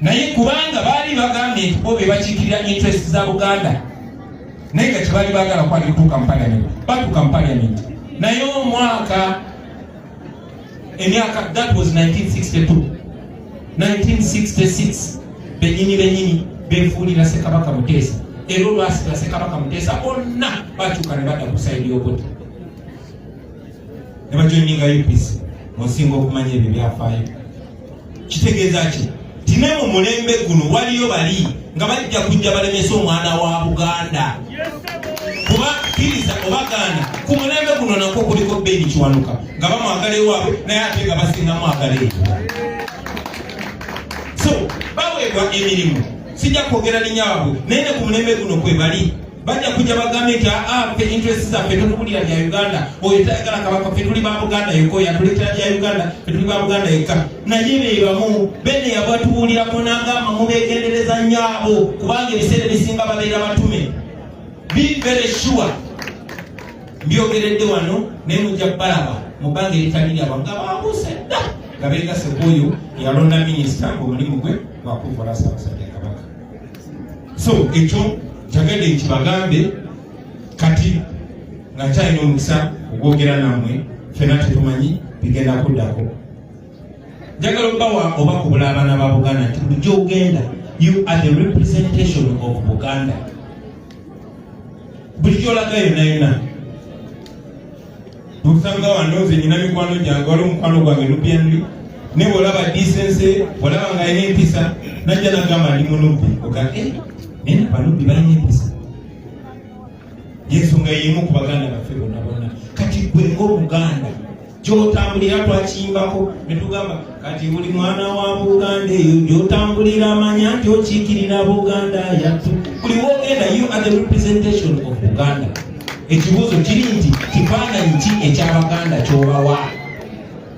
naye kubanga baali bagambye nti bo bebakiikirira interest za buganda naye nga kyebaali bagala kwali kutuuka mu parliament batuuka mu parliament naye omwaka emyaka that was 1962 1966 benyini benyini befuulira sekabaka muteesa era olwasira sekabaka muteesa bonna bakyuka ne badda ku saidi y'okuti ne bajoininga UPC musinga okumanya ebyo byafaayo kitegeeza ki tine mu mulembe guno waliyo bali nga bajja kujja balemesa omwana wa buganda kuba kiriza obagaana ku mulembe guno nakwo kuliko beni kiwanuka nga bamwagala ewaabwe naye ate nga basinga mwagala eyo so baweebwa emirimu sijja kwogera linya wabwe naye ne ku mulembe guno kwe bali bajja kujja bagambe nti aa ah, ah, fe interest zaffe totubulira bya uganda oyo tayagala kabaka fe tuli ba buganda yokka oyo atuleetera bya uganda fe tuli ba buganda yokka naye bebamu bene yabatubuulirako nagamba mubegendereza nnyo abo kubanga ebiseera ebisinga babeera batume be very sure mbyogeredde wano naye mujja kubalaba mu bbanga eritali lyabo nga babuuse dda nga beegase kuoyo yalonda minisita ngaomulimu gwe gwakuvula sabasajja so ekyo kyagadde nkibagambe kati nga kyalina omukisa ogwogera namwe fena tetumanyi bigenda kuddako njagala obawa oba kubula abaana ba buganda nti bulijjo ogenda you are the representation of buganda bulijjo olaga yonayona tukusanga wano nze nyina mikwano gyange wali omukwano gwange lubyanli naye bwolaba disense bwolaba nga alina empisa najja nagamba ndi munubbi oga eh, naye nabanubbi balina empisa yensonga yemu ku baganda baffe bonna bonna kati gwe ngaomuganda gyotambulira twakiyimbako netugamba kati buli mwana wa buganda eyo gyotambulira amanya nti okiikirira buganda yatu buli wogenda you are the representation of buganda ekibuuzo kiri nti kifaananyi ki ekyabaganda kyobawa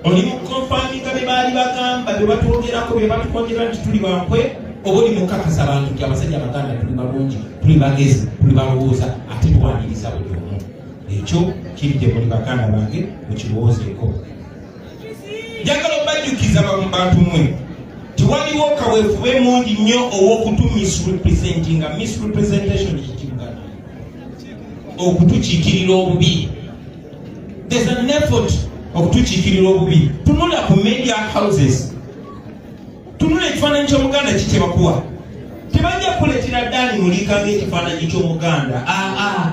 oli mukonfaminga bye baali bagamba bye batwogerako bye batukonyera nti tuli bankwe oba oli mukakasa bantu nti abasajja abaganda tuli balungi tuli bagezi tuli balowooza ate tuwaniriza buli omu ekyo kiri gye muli baganda bange mukirowoozeeko njagala obajjukiza bantu mwe tiwaliwo kawefube mungi nnyo ow'okutu misrepresentinga misrepresentation ekitibugana okutukiikirira obubi there's an effort okutukiikirira obubi tunula ku media houses tunula ekifaananyi ky'omuganda kikyebakuwa tebajja kukuleetera daani muliika ng'ekifaananyi ky'omuganda aa ah, ah.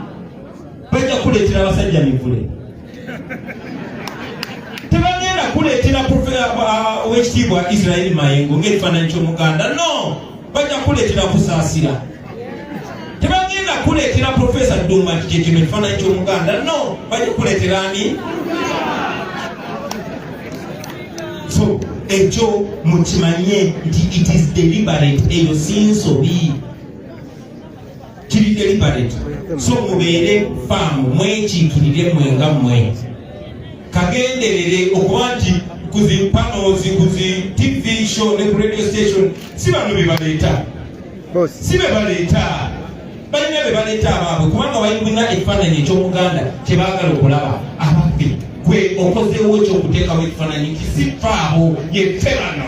bajja kukuleetera abasajja mivule tebagenda kuleetera uh, owekitiibwa israeli mayengo ngaekifaananyi ky'omuganda no bajja kuleetera kusaasira tebagenda kuleetera profesa duma nti kyekino ekifaananyi ky'omuganda no bajja kuleetera ani so ekyo mukimanye nti it is deliberate eyo si nsobi kiri deliberate so mubeere faamu mwekiikirire mwe nga mwe kagenderere okuba nti kuzi panos kuzi tv show ne ku radio station si bano bebaleeta si bebaleeta balina bebaleeta abaabwe kubanga balina ekifaananyi ekyomuganda kyebaagala okulaba abaffe gwe okozeewo ekyokuteekawo ekifaananyi kisifaabo yeffe bano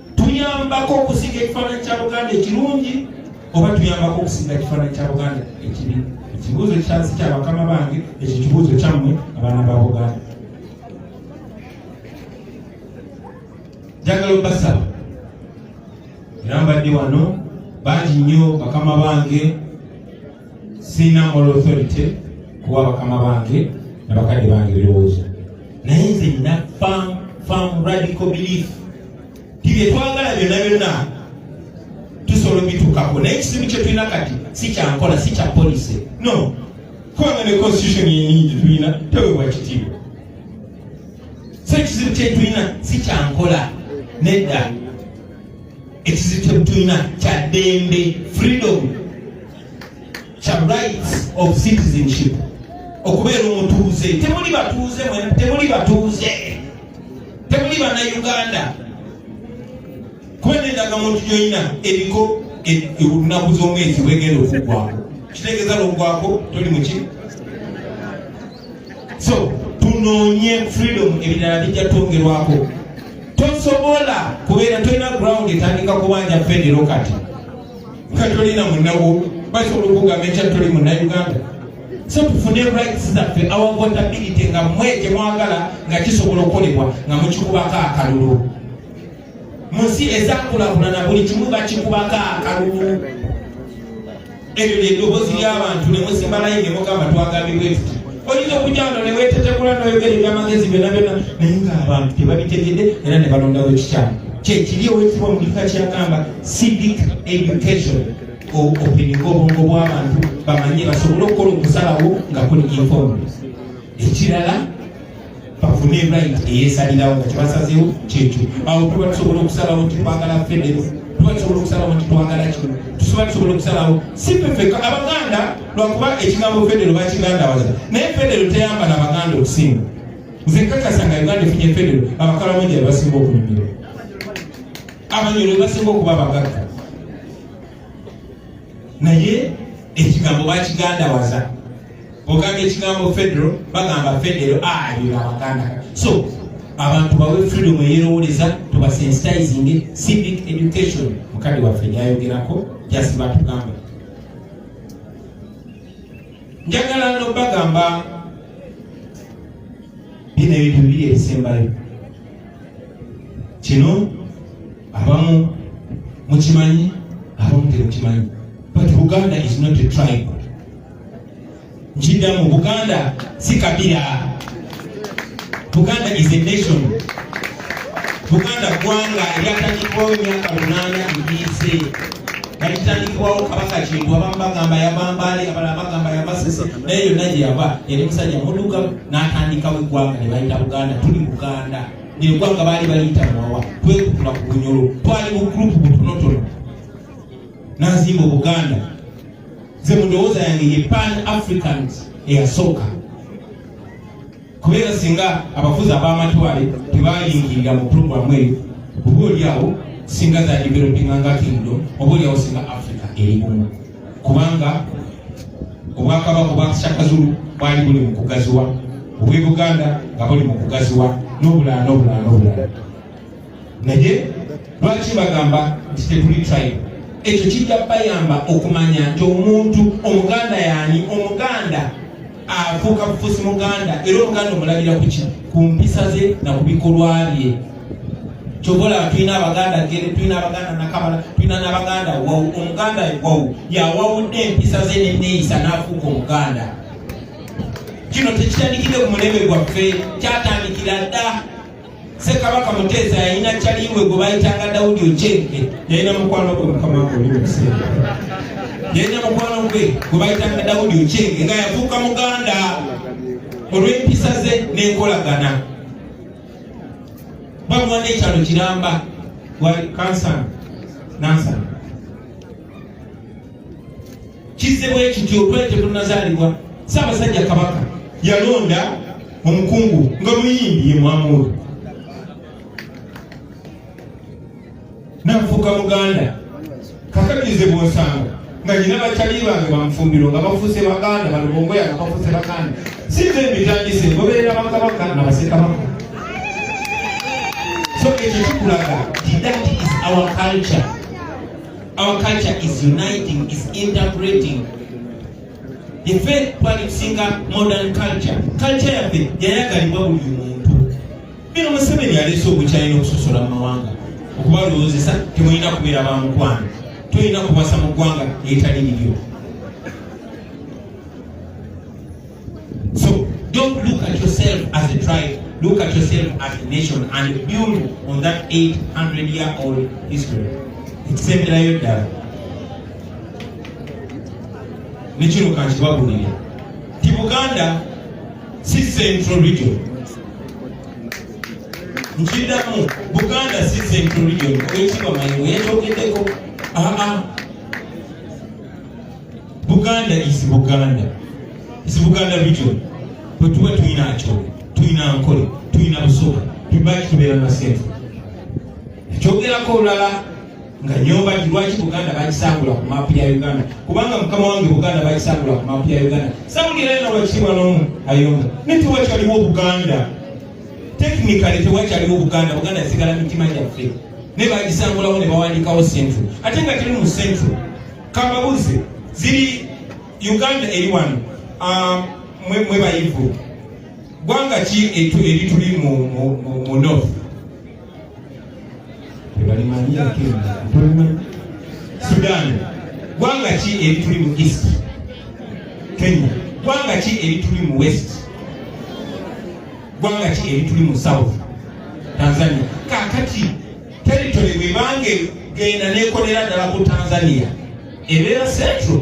tuyambako okusinga ekifaananyi kya buganda ekirungi oba tuyambako okusinga ekifaananyi kya buganda ekibi ekibuuzo kyansi kya bakama bange ekyo kibuuzo kyammwe abaana ba buganda njagala obasaba era mbadde wano bangi nnyo bakama bange sirina moral authority kuwa bakama bange nabakadde bange ebirowoozo naye nze nina fam fam radical belief tibyetwagala byonna byonna tusobola obitukako naye ekizibu kyetulina kati si kyankola si kya polisi no kubanga ne constitution yenyingi tulina tewebwa kitiibwa so ekizibu kyetulina si kyankola nedda ekizibu kyetulina kya ddembe freedom kya rights of citizenship okubeera omutuuze temuli batuuze temuli batuuze temuli bana uganda kuba nendaga muntu gyolina eriko olunaku z'omwezi bwegenda okugwako kitegeeza logwako toli muki so tunoonye freedom ebirala bijja twongerwako tosobola kubeera tolina ground etandika kubanja federo kati nga tolina munawo basobola okugamba ekya toli munauganda so tufune rights zaffe awavotability nga mwe kyemwagala nga kisobola okukolebwa nga mukikubako akalulu munsi ezakulakulana buli kimu bakikubako akalulu ebyo lyedoboozi lyabantu nemusimba layini nemugamba twagambibwetuti oyinza okujja wano ne weetetekula n'oyogera ebyamagezi byonna byonna naye ng'abantu tebabitegede era ne balondawo ekikyamu kyekiri owekitibwa mu kika kyagamba civic education openga obwongo bw'abantu bamanye basobole okukola okusalawo nga kuli informed ekirala bafune right eyesalirawo nga kyebasazewo kyekyo awo tuba tusobola okusalawo nti twagala federo tuba tusobola okusalawo nti twagala kino tusoba tusobola okusalawo si fefeka abaganda lwakuba ekigambo federo bakigandawaza naye federo teyambala abaganda okusinga nze nkakasa nga uganda efunye federo abakalamoja bebasinga okunyumira abanyolo bebasinga okuba abagagga naye ekigambo bakigandawaza ogamba ekigambo federo bagamba federo alira ah, abaganda so abantu bawe freedom eyerowoleza tubasensitizing civic education mukadi waffe yayogerako just batugamba njagala no bagamba bino ebintu biri ebisembayo kino abamu mukimanyi abamu temukimanyi but uganda is not a tribe nkiddamu buganda si kabira buganda is a nation buganda ggwanga eryatandikibwawo emyaka munaana egiyise yalitandikibwawo kabaka kintu abamu bagamba yabambaale abala bagamba yabasese naye yonna gye yava yali musajja muduka n'atandikawo eggwanga ne bayita buganda tuli buganda neggwanga baali baliyita muwawa twekutula ku bunyolo twali mu gurupu butonotono nazimba obuganda nze mu ndowooza yange ye pan africans eyasooka kubeera singa abafuzi ab'amatwale tebayingirira mu puroguramu eyo oba olyawo singa za developinga nga kingdom oba olyawo singa africa eri bumu kubanga obwakabaka obwakisakazulu bwali buli mu kugaziwa obw'e buganda nga buli mu kugaziwa n'obulala n'obulala n'obulala naye lwaki bagamba nti tetuli tribe ekyo kijja bayamba okumanya nti omuntu omuganda yani omuganda afuuka bufusi muganda era omuganda omulabira kuki ku mpisa ze na ku bikolwa bye kyobola tulina abaganda gere tulina abaganda nakabala tulina nabaganda wawu omuganda wawu yawawudde empisa ze neneeyisa n'afuuka omuganda kino tekitandikidde ku mulembe gwaffe kyatandikira dda Ssekabaka Muteesa yalina caliwe gwe bayitanga Daudi Ochenge. Yalina mukwano gwe mukama wange oli mukiseera. Yalina mukwano gwe gwe bayitanga Daudi Ochenge nga yafuuka muganda olw'empisa ze n'enkolagana. Bamuwa n'ekyalo kiramba wali kansana nansana. kizze bwe kityo twali tetunazaalibwa ssaabasajja kabaka yalonda omukungu nga muyimbi ye mwamuulu nafuuka muganda kakakirize bwonsanga nga nyina bakyali bange bamufumbiro nga bafuuse baganda balubongoya nga bafuuse baganda sinze mbitandise ngoberera bakabaka na basekabaka so ekyo kikulaga that is our culture Our culture is uniting, is integrating. The faith twalikusinga modern culture. Culture yaffe yayagalibwa buli muntu. Bino Museveni yaleese obukyayi n'okusosola mu mawanga okubalowoozesa temulina kubeera ba mukwano, tulina kubasa mu ggwanga eritali liryo. So don't look at yourself as a tribe, look at yourself as a nation and build on that 800 year old history. Ekisemberayo ddala ne kino kankibabulire ti Buganda si central region nkiddamu Buganda si central region oyo kibamanyi weyakyogeddeko aa buganda is buganda is buganda region bwetuba tulina nkyolo tulina nkole tulina busoga tubaki tubeera nasenfu ekyogerako olulala nga nyomba nti lwaki buganda bakisangula ku maapu ya uganda kubanga mukama wange buganda bakisangula ku maapu ya uganda sawulirayo nolwakitiibwa nomu ayonga naye tewakyaliwo buganda tekinikale tewakyaliwo buganda buganda sigala mitima gyaffe naye bakisangulawo ne bawandiikawo senfu ate nga teri mu senfu kambabuzi ziri uganda eri wano ah, mwe bayivu gwanga ki erituli mu north sudan gwanga ki erituli mu east kenya gwanga ki erituli mu west gwanga ki erituli mu south tanzania kakati Territory bwebange genda nekolera ddala ku Tanzania ebeera central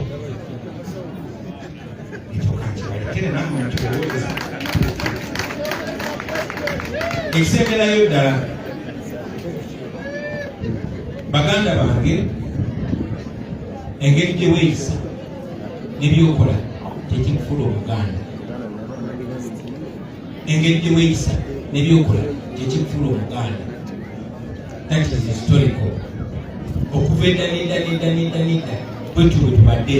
ekisemberayo ddala baganda bange engeri gyeweyisa nebyokola tekikufula omuganda engeri gye weeyisa nebyokola kyekifuula omuganda that is historical okuva edda nedda nedda nedda nedda bwetyo bwe tubadde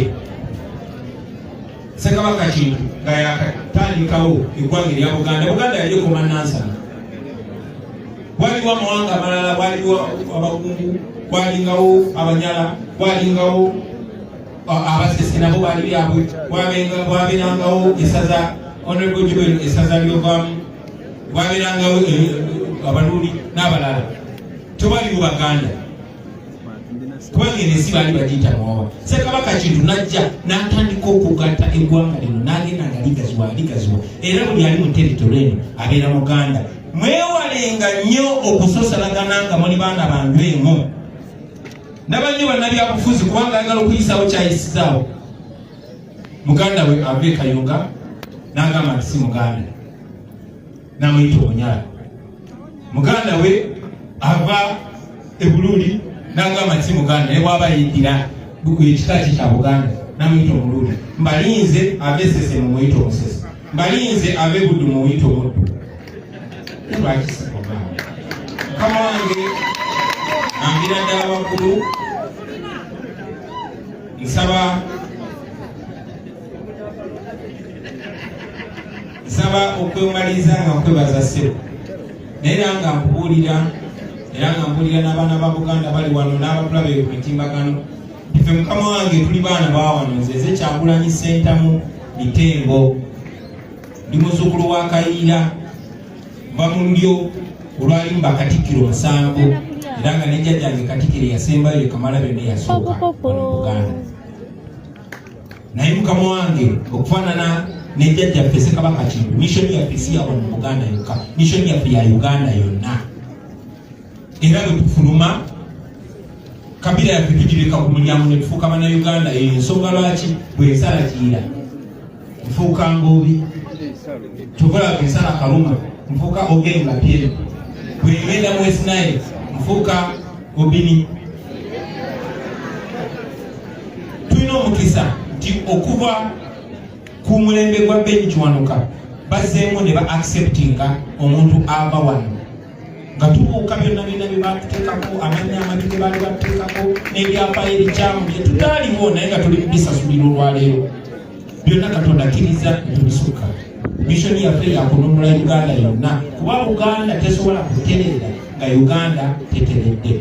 sekabaka kintu nga yakatandikawo eggwanga erya buganda buganda yali ekoma nansana waliwo amawanga amalala waliwo abagungu walingawo abanyala walingawo abasisi nabo bali byabwe bwaberangawo esaza honorable jubel esaza lyovamu bwaberangawo eh, eh, abaluuli n'abalala tobali mu baganda kubanga eno ensi baali bagiyita muwawa sekabaka kintu najja n'atandika okugatta eggwanga lino n'agenda nga ligaziwa ligaziwa era buli ali mu teritole eno abeera muganda mwewalenga nnyo okusosalagana nga muli baana bandu emu ndaba nnyo bannabyabufuzi kubanga ayagala okuyisaawo kyayisizaawo muganda we ava e kayunga n'agamba nti si muganda namuyita omunyala muganda we ava e buluuli n'agamba nti si muganda naye bwaba yidira ekika kye kya buganda namuyita omuluuli mbalinze ava esese mumuyita omusese mbalinze abe buddu muyita omuddu lwakisiaa mukama wange ambira ddala waggulu nsaba nsaba okwemaliriza nga nkwebaza sebo naye era nga nkubuulira era nga mbuulira n'abaana ba buganda bali wano n'abatulabe ku mitimbagano Ife mukama wange tuli baana bawano nze eze kyagulanyi sentamu mitengo ndi muzukulu wa kayiira va mu lulyo olwalimu bakatikkiro musanvu era nga nejjajjange katikiro yasembayo yekamala byonna yasooka ono muganda naye mukama wange okufaanana nejjajjaffe sekabaka kintu mishoni yaffe si yawano mu buganda yokka mishoni yaffe ya uganda yonna era bwe tufuluma kabira yaffe tugireka ku mulyango ne tufuuka bannayuganda eyo ensonga lwaki bwensala giira nfuuka ngoobi kyokola bwensala kaluma nfuuka ogenga pyere bwengenda mu wesinaye nfuuka obini tulina omukisa nti okuva ku mulembe gwa benyi kiwanuka bazzeemu ne ba acceptinga omuntu ava wano nga tubuuka byonna byonna bye baatuteekako amanya amabi ge baali batuteekako n'ebyafaayo ebikyamu bye tutaaliwo naye nga tuli bisasulira olwaleero byonna katonda akkiriza tubisuka mishoni yaffe yakununula uganda yonna kuba uganda tesobola kuterera nga uganda teteredde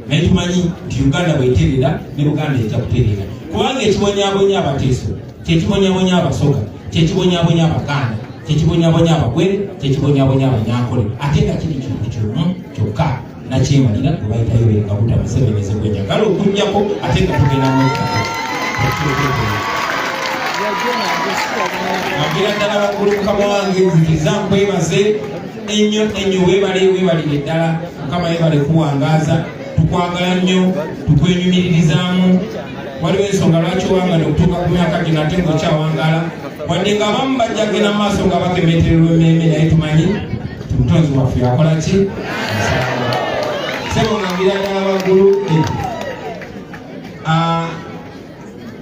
naye tumanyi nti uganda bweterera ne uganda ejja kuterera kubanga ekibonyabonya abateeso kyekibonyabonya abasoga kyekibonyabonya abaganda kyekibonyabonya abagwere kyekibonyabonya abanyankole ate nga kiri kintu kimu kyokka nakyemalira gwebayitayo bengabuta museveni zegwenjagala okunyako ate nga tugenda mukako agira ddala waggulu mukama wange nzikiza nkwebaze ennyo ennyo webale webalire ddala mukama yebale kuwangaza tukwagala nnyo tukwenyumiririzaamu waliwo ensonga lwaki wangala okutuuka ku myaka gino ate ngaokyawangala wadde nga abamu bajja genda mu maaso nga bakemetererwa emmeeme naye tumanyi omutonzi waffe yakola ki sebo ngangira ddala waggulu eh. ah,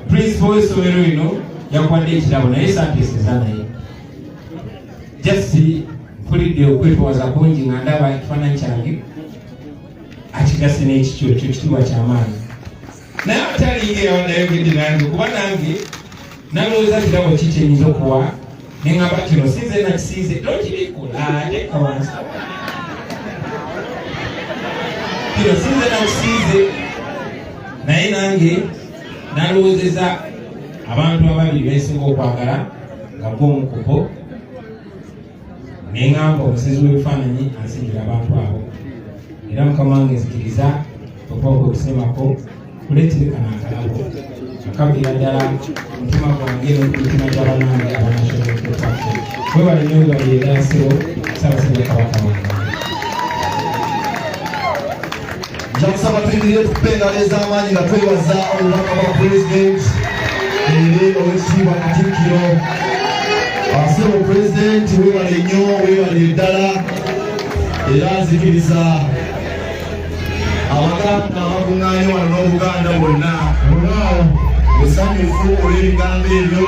principal w'essomero lino yakuwadde ekirabo naye santeeseza naye just mpulidde okwetwaza kungi nga ndaba ekifaananyi kyange akigase n'ekikyo ekyo kitibwa kyamaanyi naye atalingeyo nayogedde nange kuba nange nalowooza kirabo ki kyenyinza okuwa nengamba kino sinze nakisinze nokibikula ate kawansi kino sinze nakisinze naye nange nalowoozeza abantu ababiri besinga okwagala nga gwomukubo neŋamba omusezi w'ebifaananyi ansingira abantu abo era mukama wange nzikiriza okwaoka okusemako kuleterekana akalabo akabira ddala omutima gwange nomutima gyabanange abanashobokukwako webale nyo webale erasiro sabasabya kabaka wange nja kusaba tuyimirire tukuba engalo ez'amaanyi nga twebaza obubaka bwa pulezidenti eri owekitiibwa katikkiro asebo pulezidenti webale nnyo webale eddala era nzikiriza abaganda abakuŋŋaanye wano n'obuganda bwonna musanyufu olw'ebigambo ebyo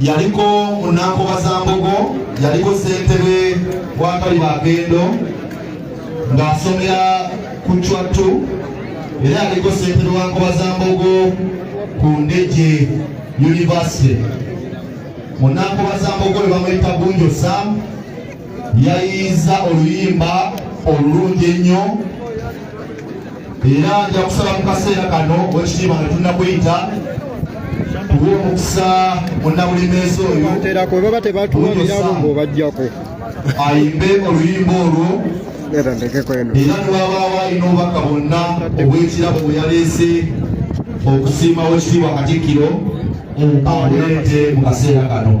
yaliko munankoba za mbogo yaliko ssentebe wakaliba agendo ng'asomera ku cwattu era yaliko ssentebe wa nkoba za mbogo ku ndeje yunivasite munankoba za mbogo lwe bamuyita gunjo sam yayiiza oluyimba olulungi ennyo era nja kusaba mu kaseera kano wekitiibwa nga tunnakuyita tuwa omukisa munnabulimeezi oyo terako baba tebatuwalirabo ng'obajjako ayimbe oluyimba olwo era newabaawo alina obubaka bwonna obw'ekirabo bwe yaleese okusiima wekitiibwa katikkiro abuleete mu kaseera kano